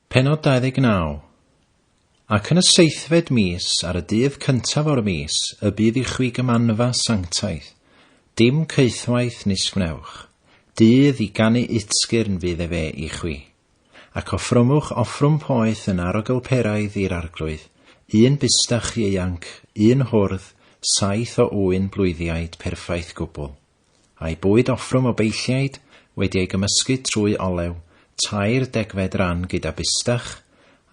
Pennod 29 Ac yn y seithfed mis, ar y dydd cyntaf o'r mis, y bydd i chwi gymanfa sanctaidd, dim caethwaith nis gwnewch, dydd i ganu utgyrn fydd efe i chwi. Ac offrymwch offrwm poeth yn arogl peraidd i'r Arglwydd, un bustach ieuanc, un hwrdd, saith o ŵyn blwyddiaid perffaith gwbl. A'i bwyd offrwm o beilliaid wedi ei gymysgu trwy olew, tair degfed ran gyda bistach,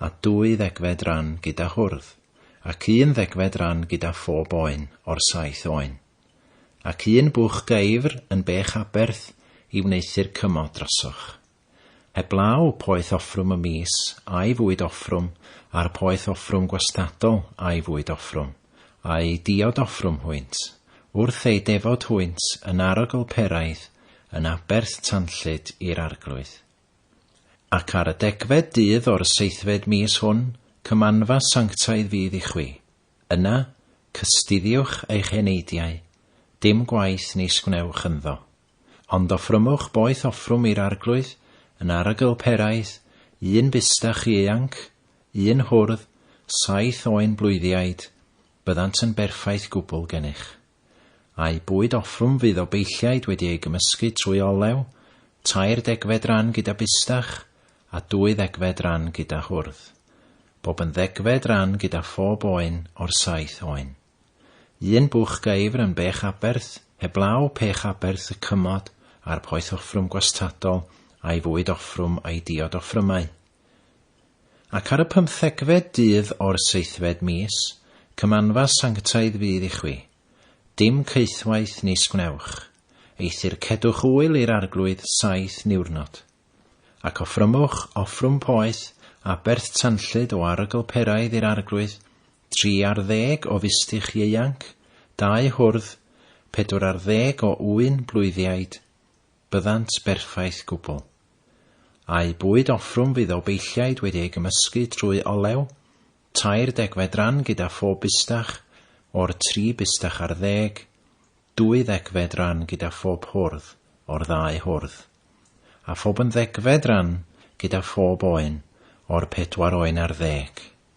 a dwy ddegfed ran gyda hwrdd, ac un ddegfed ran gyda phob oen o'r saith oen. Ac un bwch gaeafr yn bech aberth i wneuthur cymod drosoch. Heblaw poeth offrwm y mis a'i fwyd offrwm a'r poeth offrwm gwastadol a'i fwyd offrwm, a'u diod offrwm hwynt, wrth eu defod hwynt yn arogl Peraidd yn aberth tanllyd i'r arglwydd. Ac ar y degfed dydd o'r seithfed mis hwn, cymanfa sanctaidd fydd i chwi. Yna, cystuddiwch eich eneidiau, dim gwaith nis gwnewch ynddo. Ond offrymwch boeth offrwm i'r Arglwydd, yn arogl peraidd, un bustach ieuanc, un hwrdd, saith oen blwyddiaid, byddant yn berffaith gwbl gennych. A'u bwyd offrwm fydd o beilliaid wedi ei gymysgu trwy olew, tair degfed ran gyda bustach, a dwy ddegfed ran gyda hwrdd. Bob yn ddegfed ran gyda phob oen o'r saith oen. Un bwch geifr yn bech aberth, heblaw pech aberth y cymod a'r poeth offrwm gwastadol a'i fwyd offrwm a'i diod offrymau. Ac ar y pymthegfed dydd o'r seithfed mis, cymanfa sanctaidd fydd i chwi. Dim caethwaith nis gwnewch. Eithr cedwch ŵyl i'r arglwydd saith niwrnod. Ac offrymwch offrwm poeth aberth tanllyd o arogl peraidd i'r arglwydd, Tri ar ddeg o fistych ieuanc, dau hwrdd, pedwar ar ddeg o ŵyn blwyddiaid, byddant berffaith gwbl. A'u bwyd offrwm fydd o beilliaid wedi ei gymysgu trwy olew, tair degfed ran gyda phob bistach, o'r tri bistach ar ddeg, dwy ddegfed ran gyda phob hwrdd, o'r ddau hwrdd. A phob yn ddegfed ran gyda phob oen, o'r pedwar oen ar ddeg.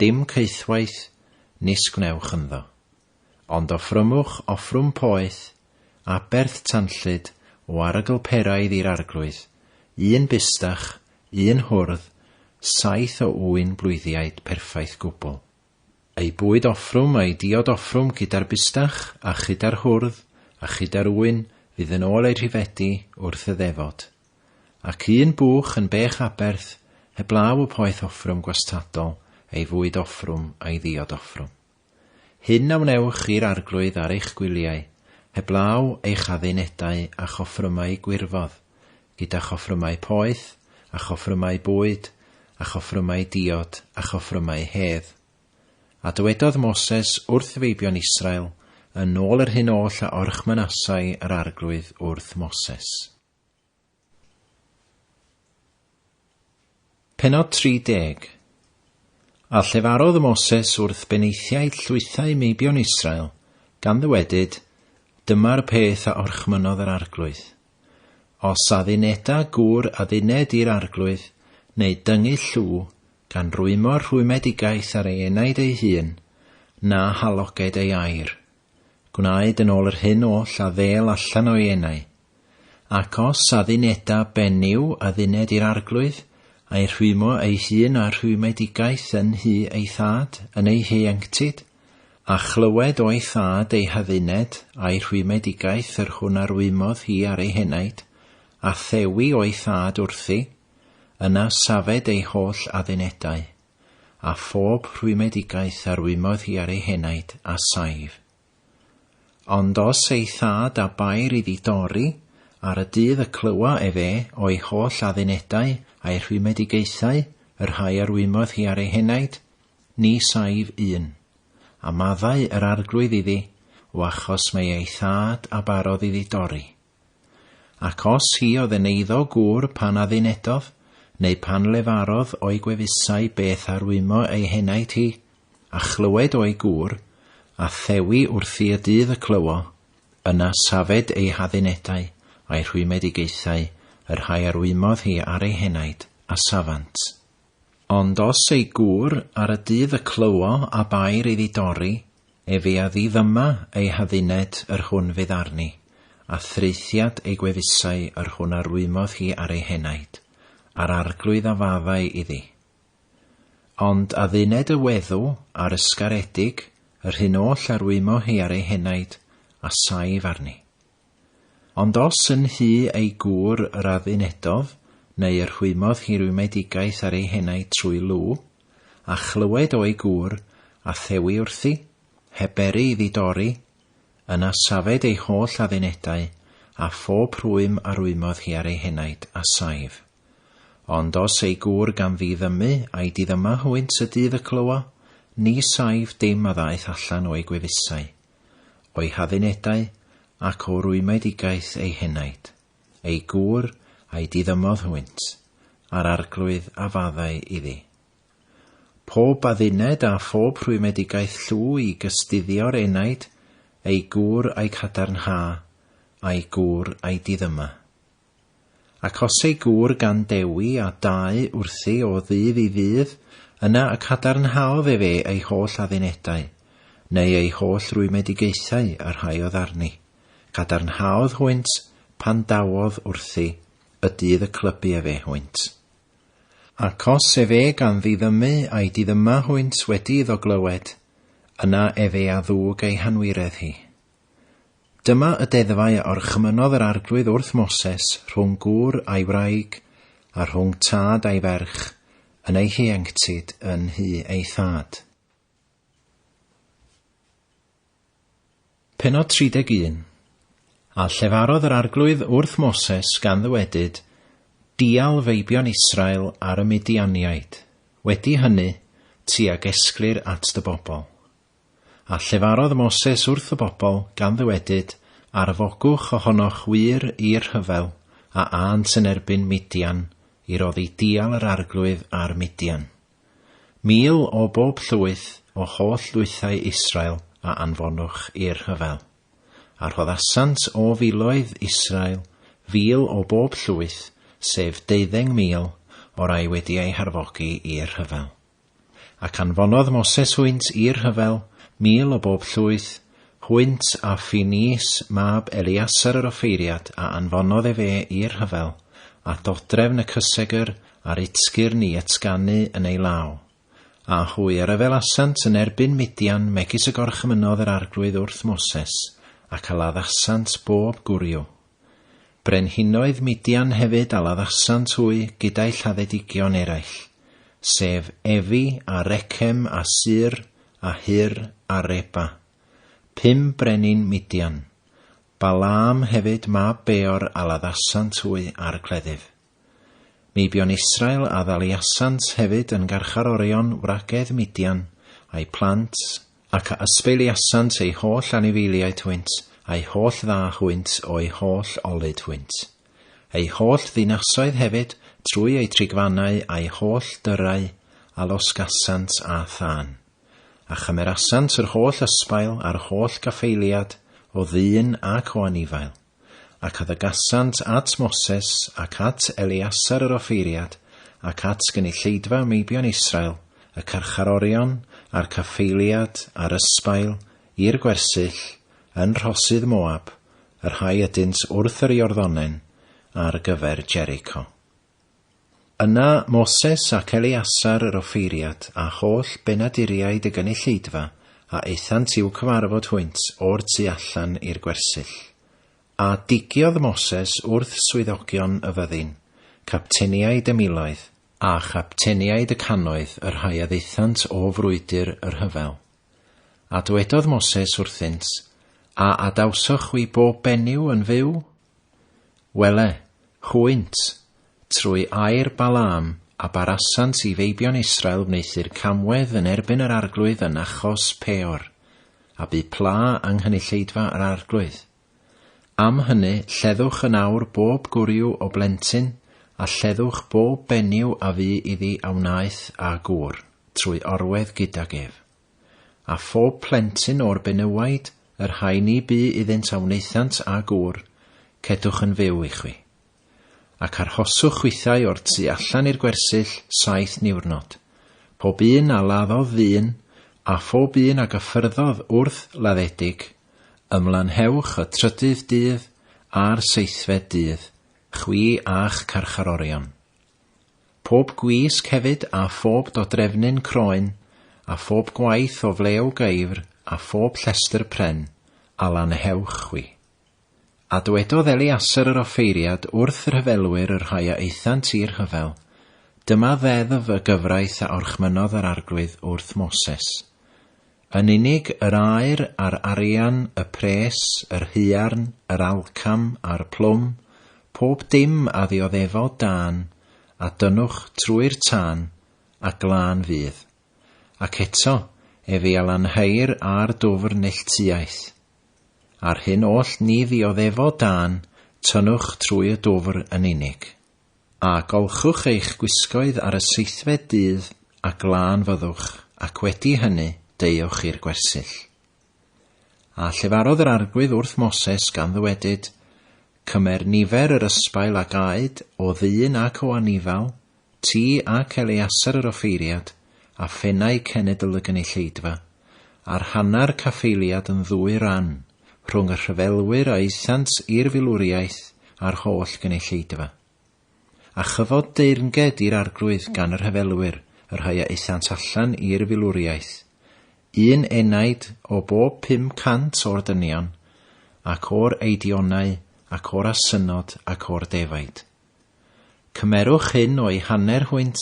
Dim caethwaith, nis gwnewch ynddo. Ond offrymwch offrwm poeth, aberth tanllyd o arogl peraidd i'r arglwydd, un bustach, un hwrdd, saith o ŵyn blwyddiaid perffaith gwbl. Ei bwyd offrwm a'i diod offrwm gyda'r bustach, a chyda'r hwrdd, a chyda'r ŵyn, fydd yn ôl eu rhifedi wrth y ddefod. Ac un buwch yn bech aberth heblaw y poeth offrwm gwastadol ei fwyd offrwm a'i ddiod offrwm. Hyn a wnewch i'r arglwydd ar eich gwyliau, heblaw eich addunedau a'ch offrymau gwirfodd, gyda'ch offrymau poeth, a'ch offrymau bwyd, a'ch offrymau diod, a'ch offrymau hedd. A dywedodd Moses wrth feibion Israel yn ôl yr hyn oll a orchmynasai yr arglwydd wrth Moses. Pennod 30 A llefarodd y Moses wrth benaethiaid llwythau meibion Israel, gan ddywedyd, Dyma'r peth a orchmynnodd yr arglwydd. Os adduneda gŵr adduned i'r arglwydd, neu dyngu llw, gan rwymo'r rhwymedigaeth ar ei enaid ei hun, na haloged ei air, Gwnaed yn ôl yr hyn oll a ddêl allan o'i enau. Ac os adduneda ben yw adduned i'r Arglwydd, a'i rhwymo ei hun â rhwymedigaeth yn nhu ei Thad yn ei hieuenctid, a chlywed o'i Thad ei hadduned a'i rhwymedigaeth yr hwn a rwymodd hi ar ei henaid, a thewi o'i Thad wrthi, yna safed ei holl addunedau. a phob rhwymedigaeth arwymodd hi ar ei henaid a saif. Ond os ei thad a bair iddi dorri ar y dydd y clywa ef e o'i holl addunedau a'i rhwymedigaethau, y rhai arwymodd hi ar ei henaid, ni saif un. A maddau yr Arglwydd iddi, o achos mae ei thad a barodd iddi dorri. Ac os hi oedd yn eiddo gŵr pan addunedodd, neu pan lefarodd o'i gwefusau beth a rwymo ei henaid hi, a chlywed o'i gŵr, a thewi wrthi y dydd y clywo, yna safed ei haddunedau, a'i rhwymedigaethau, y rhai a rwymodd hi ar ei henaid, a safant. Ond os ei gŵr ar y dydd y clywo a bair iddi dorri efi a ddiddyma ei hadduned yr hwn fydd arni, a thraethiad ei gwefusau yr hwn a rwymodd hi ar ei henaid, a'r arglwydd a faddau iddi. Ond adduned y weddw a'r ysgaredig yr hyn oll a rwymo hi ar ei henaid, a saif arni. Ond os yn nhŷ ei gŵr yr adduneddodd, neu yr hwymodd hi rwymedigaeth ar ei henau trwy lw, a chlywed o'i gŵr, a thewi wrthi, heb beri iddi dorri, yna safed ei holl addunedau, a phob rhwym a rwymodd hi ar ei henaid, a saif. Ond os ei gŵr gan ddiddymu, a'i diddyma hwynt y dydd y clywa, ni saif dim a ddaeth allan o'i gwefusau. o'i haddunedau ac o rwymedigaeth ei henaid, ei gŵr a'i diddymodd hwynt, a'r arglwydd a faddai iddi. Pob adduned a phob rhwymedigaeth llw i gystuddio'r enaid, ei gŵr a'i cadarnha, a'i gŵr a'i diddyma. Ac os ei gŵr gan Dewi a dau wrthi o ddydd i ddydd, yna y cadarnhaodd ef e ei holl addunedau, neu ei holl rwymedigaethau y rhaiodd arni. Cadarnhaodd hwynt, pan dawodd wrthi, y dydd y clybu efe hwynt. Ac os efe gan ddiddymu a'i diddyma hwynt wedi iddo glywed, yna efe a ddwg ei hanwiredd hi. Dyma y deddfau a orchmynnodd yr Arglwydd wrth Moses rhwng gŵr a'i wraig, a rhwng tad a'i ferch, yn eu hieuenctid yn nhŷ eu thad. Pennod 31 A llefarodd yr Arglwydd wrth Moses gan ddywedyd, Dial feibion Israel ar y Midianiaid. Wedi hynny, ti a gesglir at dy bobl. A llefarodd Moses wrth y bobl, gan ddywedyd, Arfogwch ohonoch wŷr i'r rhyfel, a ânt yn erbyn Midian, i roddi dial yr arglwydd ar Midian. Mil o bob llwyth o holl lwythau Israel a anfonwch i'r rhyfel. A rhoddasant o filoedd Israel fil o bob llwyth, sef deuddeng mil, o rai wedi eu harfogi i'r rhyfel. Ac anfonodd Moses hwynt i'r rhyfel, mil o bob llwyth, hwynt a Ffinees mab Eleasar yr offeiriad a anfonodd efe i'r rhyfel, at odrefn y cysegr a'r utsgyrn i ytsganu yn ei law. A hwy a ryfelasant yn erbyn Midian megis y gorchymynodd yr arglwydd wrth Moses, ac a laddasant bob gwryw. Brenhinoedd Midian hefyd a laddasant hwy gyda'i lladdedigion eraill, sef Efi a Rechem a Sur a Hur a Reba, pum brenin Midian. Balaam hefyd mab Beor a laddasant hwy ar y cleddyf. Ni buon Israel a ddaliasant hefyd yn garcharorion wragedd Midian, a'u plant, ac a ysbeiliasant eu holl anifeiliaid hwynt, a'u holl dda hwynt o'u holl olud hwynt. Eu holl ddinasoedd hefyd, trwy eu trigfannau a'u holl dyrrau, a losgasant â thân. A chymerasant yr holl ysbail a'r holl gaffeiliad, o ddyn ac o anifail. Ac addagasant at Moses, ac at Eleasar yr offeiriad, ac at gynulleidfa meibion Israel, y carcharorion, a'r caffaeliad, a'r ysbail, i'r gwersyll, yn rhosydd Moab, y rhai ydynt wrth yr Iorddonen, ar gyfer Jericho. Yna Moses ac Eleasar yr offeiriad, a holl benaduriaid y gynulleidfa, a aethant i'w cyfarfod hwynt o'r tu allan i'r gwersyll. A digiodd Moses wrth swyddogion y fyddin, capteniaid y miloedd, a chapteniaid y cannoedd y rhai a ddaethant o frwydr y rhyfel, a dwedodd Moses wrthynt, A adawsoch chwi bob benyw yn fyw? Wele, hwynt, trwy air Balaam, a barasant i feibion Israel wneuthur camwedd yn erbyn yr arglwydd yn achos Peor, a bu pla yng nghynulleidfa yr arglwydd. Am hynny, lleddwch yn awr bob gwryw o blentyn, a lleddwch bob benyw a fu iddi a wnaeth â gŵr, trwy orwedd gydag ef. A phob plentyn o'r benywaidd, yr rhai ni bu iddynt a wnaethant â gŵr, cedwch yn fyw i chwi. Ac arhoswch chwithau o'r tu allan i'r gwersyll saith niwrnod, pob un a laddodd ddyn, a phob un a gyffyrddodd wrth laddedig, ymlanhewch y trydydd dydd a'r seithfed dydd, chwi a'ch carcharorion. Phob gwisg hefyd a phob dodrefnyn croen, a phob gwaith o flew geifr a phob llestr pren, a lanhewch chwi. A dwedodd Eliasar yr offeiriad wrth y rhyfelwyr y rhai a aethant i'r rhyfel, Dyma ddeddf y gyfraith a orchmynnodd yr arglwydd wrth Moses. Yn unig yr aer a'r arian, y pres, yr haearn, yr alcam, a'r plwm, pob dim a ddioddefodd dân, a dynnwch trwy'r tân, a glân fydd. Ac eto, ef i a lanhau'r a'r dwfr neilltuaeth. A'r hyn oll ni ddioddefodd dân, tynnwch trwy y dwfr yn unig. A golchwch eich gwisgoedd ar y seithfed dydd, a glân fyddwch, ac wedi hynny, deuwch i'r gwersyll. A llefarodd yr arglwydd wrth Moses, gan ddywedyd, Cymer nifer yr ysbail a gaed, o ddyn ac o anifal, ti ac Eleaser yr offeiriad, a phennau cenedl y gynulleidfa, Ar hanner caffaeliad yn ddwy ran, rhwng y rhyfelwyr a aethant i'r filwriaeth a'r holl gynulleidfa. A chyfod deyrnged i'r Arglwydd gan y rhyfelwyr, y rhai a aethant allan i'r filwriaeth, un enaid o bob pum cant o'r dynion, ac o'r Eidionau, ac o'r Asynod, ac o'r Defaid. Cymerwch hyn o'i hanner hwynt,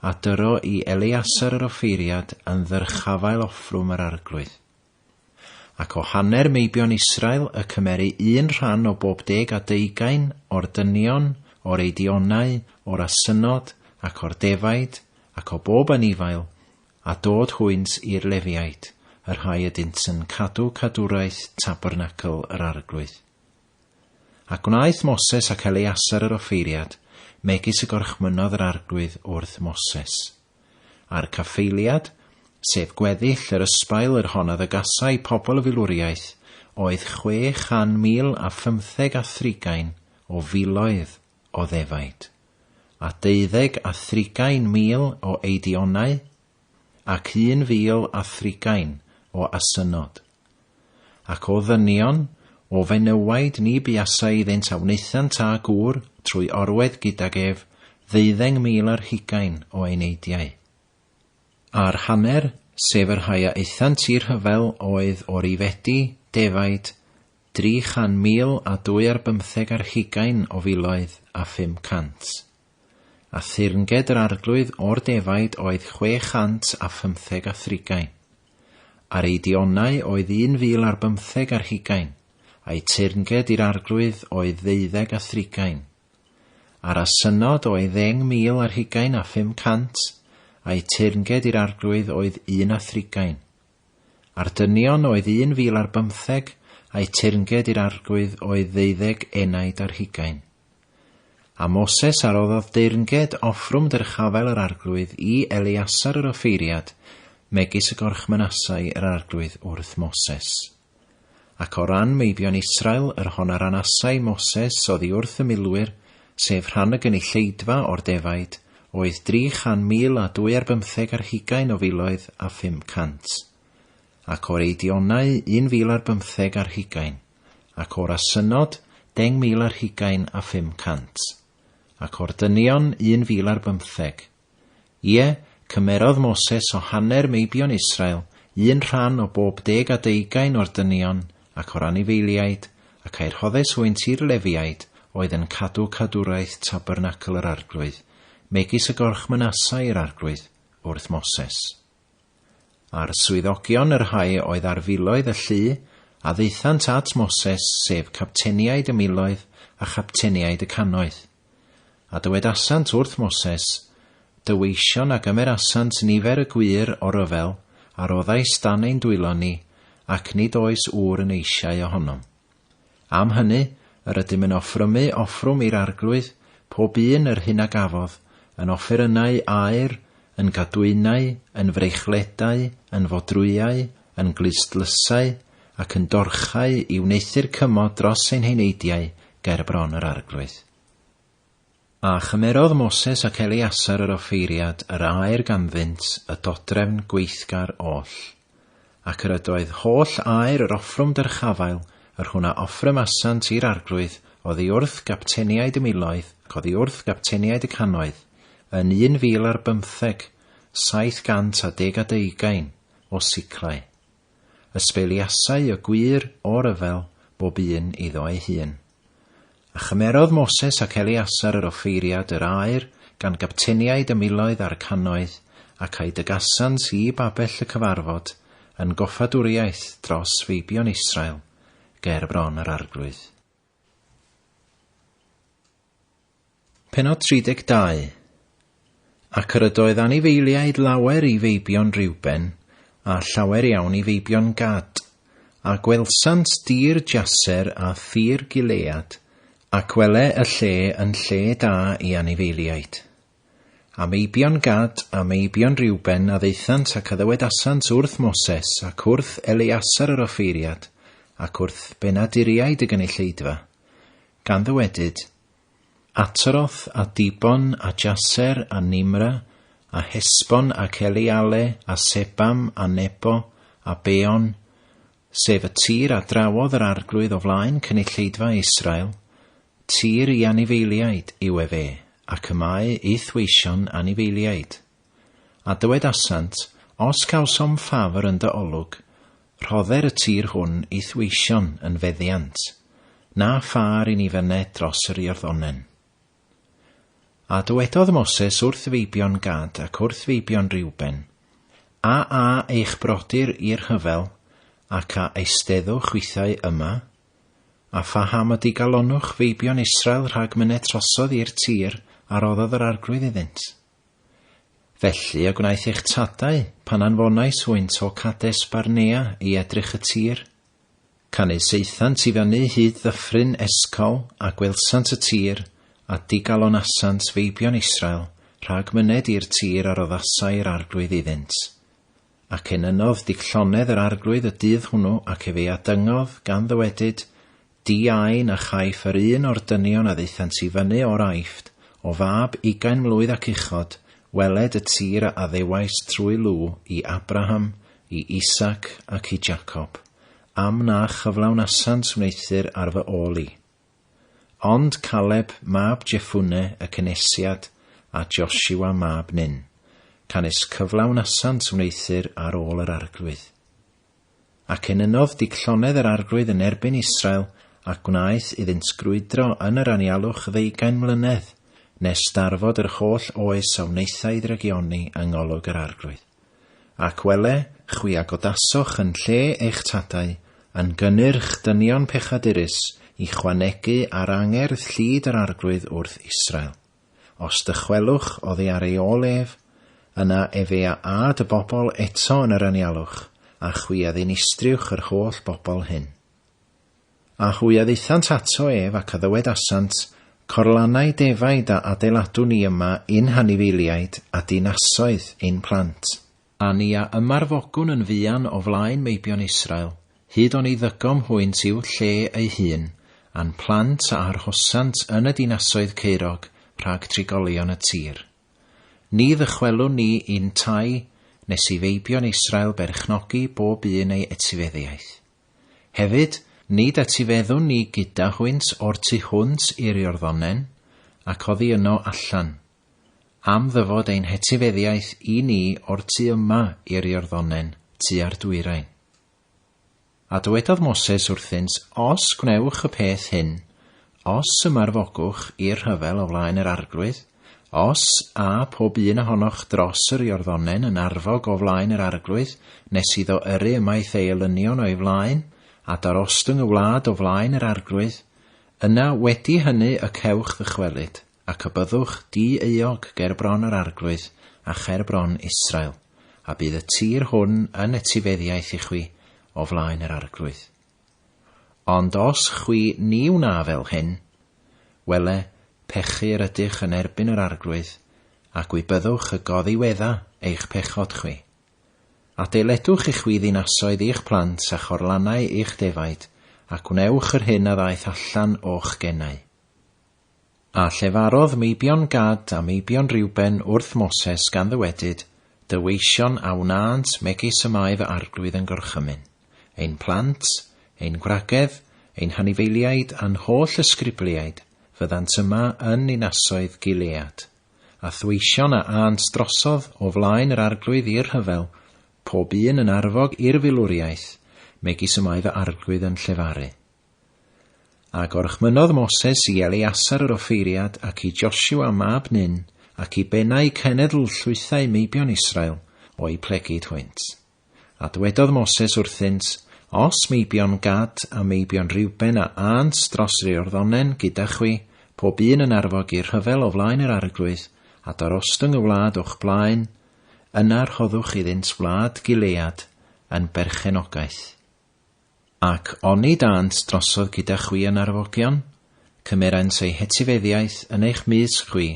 a dyro i Eleasar yr offeiriad yn ddyrchafael offrwm yr Arglwydd. Ac o hanner meibion Israel y cymeru un rhan o bob deg a deugain o'r dynion, o'r eidionau, o'r asynod, ac o'r defaid, ac o bob anifail, a dod hwynt i'r Lefiaid, y rhai ydynt yn cadw cadwraeth tabernacl yr Arglwydd. A gwnaeth Moses ac Eleasar yr offeiriad, megis y gorchmynnodd yr Arglwydd wrth Moses. A'r caffaeliad, sef gweddill yr ysbail yr honnodd y gasai pobl y filwriaeth, oedd chwe chan mil a phymtheg a thrigain o filoedd o ddefaid, a deuddeg a thrigain mil o eidionau ac un fil a thrigain o asynod. Ac o ddynion, o fenywhaid ni buasai iddynt a wnaethant â gŵr trwy orwedd gydag ef ddeuddeng mil ar hugain o eneidiau. A'r hanner, sef y rhai a aethant i'r rhyfel, oedd o Rifedi, defaid, dri chan mil a dwy ar bymtheg ar hugain o filoedd a phum cant. a thyrnged yr Arglwydd o'r defaid oedd chwe chant a phymtheg a thrigain. Ar eu dionau oedd un fil ar bymtheg ar hugain, a'u tyrnged i'r Arglwydd oedd ddeuddeg a thrigain. Ar a synod oedd ddeng mil ar hugain a phum cant, a'u tyrnged i'r Arglwydd oedd un a thrigain. Ar dynion oedd un fil ar bymtheg, a'u tyrnged i'r Arglwydd oedd ddeuddeg enaid ar hugain. A Moses a roddodd deyrnged offrwm dyrchafael yr arglwydd i Eleasar yr offeiriad, megis y gorchmynasai yr arglwydd wrth Moses. Ac o ran meibion Israel, yr hon a ranasai Moses oddi wrth y milwyr, sef rhan y gynulleidfa o'r defaid, oedd dri chan mil a dwy ar bymtheg ar hugain o filoedd a phum cant. Ac o'r Eidionau un fil ar bymtheg ar hugain. ac o'r asynnod 10,000 ar hugain a 500, ac o'r dynion 1,000 ar bymtheg. Ie, cymerodd Moses o hanner meibion Israel un rhan o bob deg a deugain o'r dynion ac o'r anifeiliaid, ac a'i rhoddes hwynt i'r Lefiaid oedd yn cadw cadwraeth tabernacl yr Arglwydd, megis y gorchmynasai yr Arglwydd wrth Moses. A'r swyddogion y rhai oedd ar filoedd y llu, a ddaethant at Moses, sef capteniaid y miloedd a chapteniaid y cannoedd. A dywedasant wrth Moses, Dyweision a gymerasant nifer y gwŷr o ryfel a roddais dan ein dwylo ni, ac nid oes ŵr yn eisiau ohonom. Am hynny, yr ydym yn offrymu offrwm i'r Arglwydd, pob un yr hyn a gafodd, yn offerynnau aur, yn gadwynau, yn freichledau, yn fodrwyau, yn glustlusau, ac yn dorchau, i wneuthur cymod dros ein heneidiau ger bron yr Arglwydd. A chymerodd Moses ac Eleasar yr offeiriad yr aer ganddynt y dodrefn gweithgar oll. Ac yr ydoedd holl aer yr offrwm dyrchafael, yr hwn a offrymasant i'r arglwydd, oddi wrth gapteniaid y miloedd, ac oddi wrth gapteniaid y canoedd, yn un fil ar bymtheg, saith gant a deg a deugain, o siclau. Ysbeiliasai y gwŷr, o ryfel, bob un iddo ei hun. A chymerodd Moses ac Eleasar yr offeiriad yr aur gan gapteniaid y miloedd a'r cannoedd, ac a'i dygasant i babell y cyfarfod, yn goffadwriaeth dros feibion Israel, ger bron yr arglwydd. Pennod 32 Ac yr ydoedd anifeiliaid lawer i feibion Riwben, a llawer iawn i feibion Gad, a gwelsant dir Jaser a thir Gilead, ac wele y lle yn lle da i anifeiliaid. A meibion Gad a meibion Riwben a ddaethant ac a ddywedasant wrth Moses ac wrth Eleasar yr offeiriad, ac wrth benaduriaid y gynulleidfa, gan ddywedyd, Ataroth a Dibon a Jaser a Nimra a Hesbon ac Eleale a Sebam a Nebo a Beon, sef y tir a drawodd yr arglwydd o flaen cynulleidfa Israel, tir i anifeiliaid yw efe, ac y mae i'th weision anifeiliaid. A dywedasant, Os cawsom ffafr yn dy olwg, rhodder y tir hwn i'th weision yn feddiant, na phâr i ni fyned dros yr Iorddonen. A dywedodd Moses wrth feibion Gad ac wrth feibion Reuben, A a eich brodyr i'r rhyfel, ac a eisteddwch chwithau yma? A phaham y digalonnwch feibion Israel rhag myned trosodd i'r tir a roddodd yr Arglwydd iddynt? Felly y gwnaeth eich tadau, pan anfonais hwynt o Cades Barnea i edrych y tir. Canys aethant i fyny hyd ddyffryn Escol, a gwelsant y tir, a digalonasant feibion Israel, rhag myned i'r tir a roddasai'r Arglwydd iddynt. Ac enynnodd Duc Llonedd yr Arglwydd y dydd hwnnw, ac efe a dyngodd, gan ddywedyd, Di ai na chaiff yr un o'r dynion a ddaethant i fyny o'r Aifft, o fab ugain mlwydd ac uchod, weled y tir a addewais trwy lw i Abraham, i Isaac, ac i Jacob, am na chyflawnasant wneuthur ar fy ôl i. Ond Caleb mab Jeffune y cynesiad a Josiwa mab Nun, canys cyflawnasant wneuthur ar ôl yr arglwydd. Ac enynodd digllonedd yr arglwydd yn erbyn Israel, a gwnaeth iddynt grwydro yn yr anialwch ddeugain mlynedd, nes darfod yr holl oes a wnaethai ddrygioni yng ngolwg yr arglwydd. Ac wele, chwi a godasoch yn lle eich tadau, yn gynnyrch dynion pechadurus i chwanegu ar angerdd llid yr Arglwydd wrth Israel. Os dychwelwch oddi ar ei ôl ef, yna efe a âd y bobl eto yn yr anialwch, a chwi a ddinistriwch yr holl bobl hyn. A hwy a ddaethant ato ef, ac a ddywedasant, Corlanai defaid a adeiladu ni yma i'n hanifeiliaid a dinasoedd ein plant. A ni a ymarfogwn yn fuan o flaen meibion Israel, hyd oni ddygom hwynt i'w lle ei hun, a'n plant a arhosant yn y dinasoedd caerog rhag trigolion y tir. Ni ddychwelwn ni i'n tai, nes i feibion Israel berchnogi bob un ei etifeddiaeth. Hefyd, nid etifeddwn ni gyda hwynt o'r tu hwnt i'r Iorddonen, ac oddi yno allan, am ddyfod ein hetifeddiaeth i ni o'r tu yma i'r Iorddonen, tua'r dwyrain. A dywedodd Moses wrthynt, Os gwnewch y peth hyn, Os ymarfogwch i'r rhyfel o flaen yr Arglwydd, os â pob un ohonoch dros yr Iorddonen yn arfog o flaen yr Arglwydd, nes iddo yrru ymaith ei elynion o'i flaen, a darostwng y wlad o flaen yr Arglwydd, yna wedi hynny y cewch ddychwelyd, ac y byddwch di-euog ger bron yr Arglwydd, a cher bron Israel, a bydd y tir hwn yn etifeddiaeth i chwi o flaen yr Arglwydd. Ond os chwi ni wna fel hyn, wele, pechu yr ydych yn erbyn yr Arglwydd, a gwi byddwch y goddiwedda eich pechod chwi. Adeiledwch i chwi ddinasoedd i'ch plant a chorlannau i'ch defaid, a gwnewch yr hyn a ddaeth allan o'ch genau. A llefarodd meibion Gad a meibion Reuben wrth Moses gan ddywedyd, Dy weision a wnânt megis y mae fy arglwydd yn gorchymyn. Ein plant, ein gwragedd, ein hanifeiliaid a'n holl ysgrybliaid fyddant yma yn ninasoedd Gilead. A thweision a ânt drosodd o flaen yr arglwydd i'r rhyfel, pob un yn arfog i'r filwriaeth, megis y mae fy arglwydd yn llefaru. A gorchmynodd Moses i Eleasar yr offeiriad ac i Joshua mab Nun ac i bennau cenedl llwythau meibion Israel o'u plegid hwynt. A dwedodd Moses wrthynt, Os meibion Gad a meibion Reuben a ânt dros Reorddonen gyda chwi, pob un yn arfog i'r rhyfel o flaen yr arglwydd, a darostwng y wlad o'ch blaen, yna rhoddwch iddynt wlad Gilead yn berchenogaeth. Ac oni dânt drosodd gyda chwi yn arfogion, cymeraent eu hetifeddiaeth yn eich mysg chwi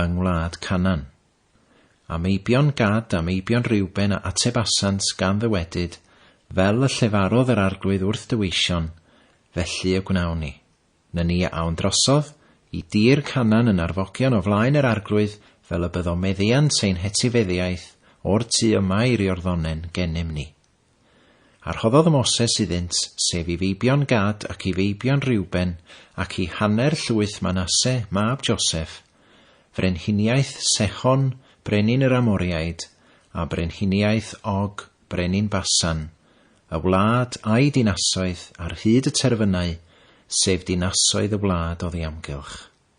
yng ngwlad Canan. A meibion Gad a meibion Reuben a atebasant gan ddywedyd, Fel y llefarodd yr Arglwydd wrth dy weision, felly y gwnawn ni. Na ni a awn drosodd i dir Canan yn arfogion o flaen yr Arglwydd fel y byddo meddiant ein hetifeddiaeth o'r tu yma i'r Iorddonen gennym ni. A rhoddodd Moses iddynt, sef i feibion Gad ac i feibion Reuben, ac i hanner llwyth Manasse, mab Joseph, frenhiniaeth Sechon, brenin yr Amoriaid, a brenhiniaeth Og, brenin Basan, y wlad a'i dinasoedd ar hyd y terfynau, sef dinasoedd y wlad oddi amgylch.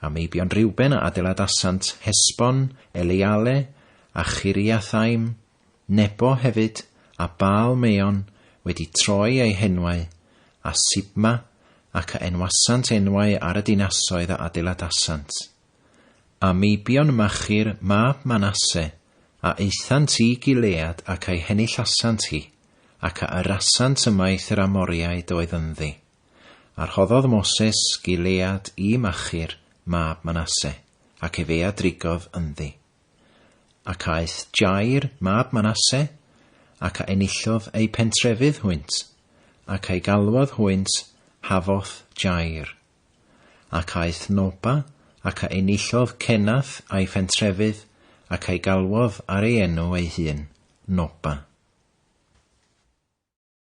A meibion Reuben a adeiladasant Hesbon, Eleale, a Chiriathaim, Nebo hefyd, a Baal Meon, wedi troi eu henwau, a Sibma, ac a enwasant enwau ar y dinasoedd a adeiladasant. A meibion Machir mab Manasse, a aethant i Gilead ac a'i henillasant hi, ac a yrrasant ymaith yr Amoriaid oedd ynddi. A rhoddodd Moses Gilead i Machir mab Manasse, ac efe a drigodd ynddi. Ac aeth Jair mab Manasse, ac a enillodd eu pentrefydd hwynt, ac a'i galwodd hwynt Hafoth Jair. Ac aeth Noba, ac a enillodd Kenath a'i phentrefydd, ac a'i galwodd ar ei enw ei hun, Noba.